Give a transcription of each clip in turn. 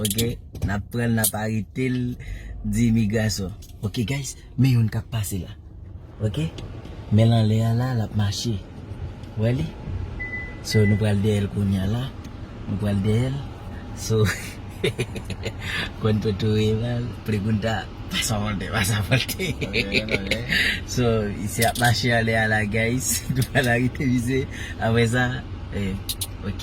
Ok nap pranl nap aretel di imigrasyon. Ok guys men youn kap pase la ok menl anlè a la lap mache wè li so nou pral dèyèl kounya la nou pral dèyèl so konn toto ye baz pregunta pasa volte pasa volte so misye ap mache anlè a la guys nou pral arete misye aprè sa ok.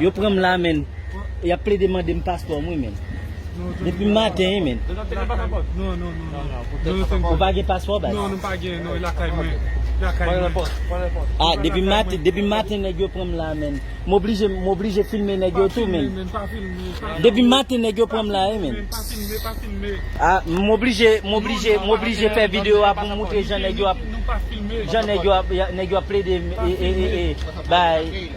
Yo pranm la menn Yap plede mandem paspòm wi menn Depim maten wi menn Ou pa gen paspò baz Ah depim maten depim maten nèg yo pranm la menn M oblije m oblije filme nèg yo tou menn Depim maten nèg yo pranm la wi menn Ah m oblije m oblije m oblije fè video a poum moutre jan nèg yo ap jan nèg yo ap plede bay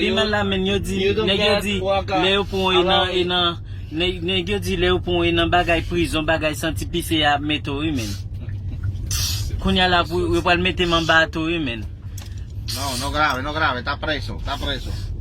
Piman la men yo di nèg yo di lè yo pran w e nan e nan nèg yo di lè yo pran w e nan bagay prizon bagay santi pise ya ap mete w wi menn kounya la pou yo pral mete m anba a tou wi menn.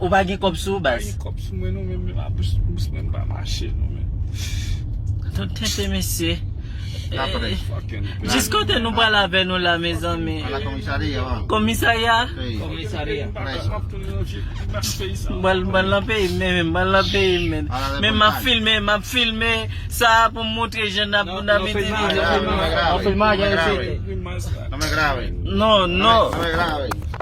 Ou pa gen kob sou ou baz. Tout tenten mesye. Jis kote nou pral avè nou la mezanmi. Komisarya. Bal bal nan peyi m menm bal nan peyi m menm. Men map filme map filme sa pou m montre jan nap nap itilize. Non non.